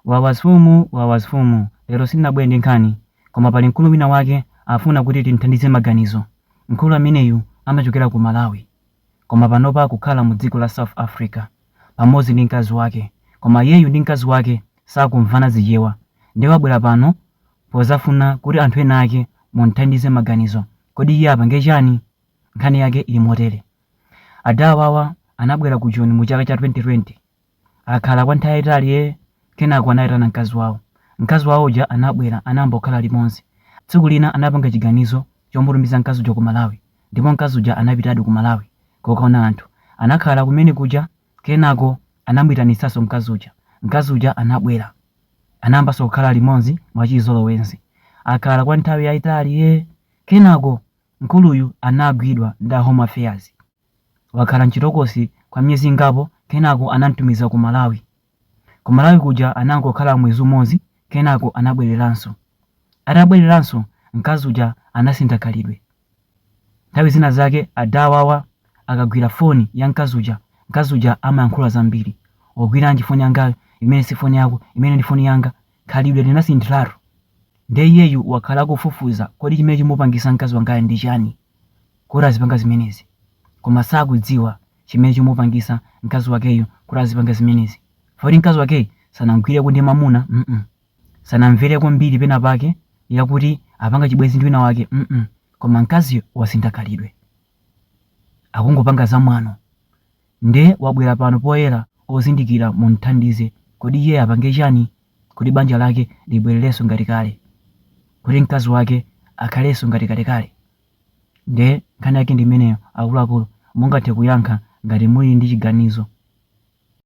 Wawa mfumu wawa mfumu lero sindinabwere ndi nkhani koma pali mkulu wina wake afuna kuti timthandize maganizo mkulu ameneyu amachokera ku malawi koma panopa akukhala mu dziko la south africa pamodzi ndi mkazi wake koma iyeyu ndi mkazi wake sakumvana Chichewa nde wabwera pano pozafuna kuti anthu ena ake mumthandize maganizo kodi iye apange chani nkhani yake ili motere adawawa anabwera ku joni mu chaka cha 2020 Akhala kwa nthawi yayitali ee. Kenako anayitana mkazi wawo. Mkazi wawo uja anabwera anayamba kukhala limodzi. Tsiku lina anapanga chiganizo chomutumiza mkazi uja ku Malawi. Ndipo mkazi uja anapitadi ku Malawi kukaona anthu. Anakhala kumene kuja kenako anamuyitanitsanso mkazi uja. Mkazi uja anabwera. Anayambanso kukhala limodzi mwachizolowezi. Akhala kwa nthawi yayitali ee. Kenako mkuluyu anagwidwa ndi a Home Affairs. Wakhala m'chitokosi kwa miyezi ingapo kenako anam'tumiza ku Malawi. Ku Malawi kuja anangokhala mwezi umodzi kenako anabwereranso. Atabwereranso, mkazi uja anasintha khalidwe. Nthawi zina zake adawawa akagwira foni ya mkazi uja, mkazi uja amayankhula zambiri. Wagwiranji foni yangayo? Imeneyi si foni yako, imeneyi ndi foni yanga. Khalidwe linasinthiratu nde iyeyu wakhala akufufuza kodi chimene chimupangisa mkazi wangayu ndi chani kuti azipanga zimenezi koma sakudziwa chimene chimupangisa mkazi wakeyu kuti azipanga zimenezi poti mkazi wakeyu sanamgwireko ndi mamuna mm sanamvereko mbiri pena pake yakuti apanga chibwenzi ndi wina wake mm koma mkaziyo wasintha khalidwe akungopanga zamwano Nde wabwera pano poyera ozindikira mumthandize kodi iye apange chani kuti banja lake libwererenso ngati kale kuti mkazi wake akhalenso ngati kalekale nde nkhani yake ndi imeneyo akuluakulu mungathe kuyankha ngati muli ndi chiganizo.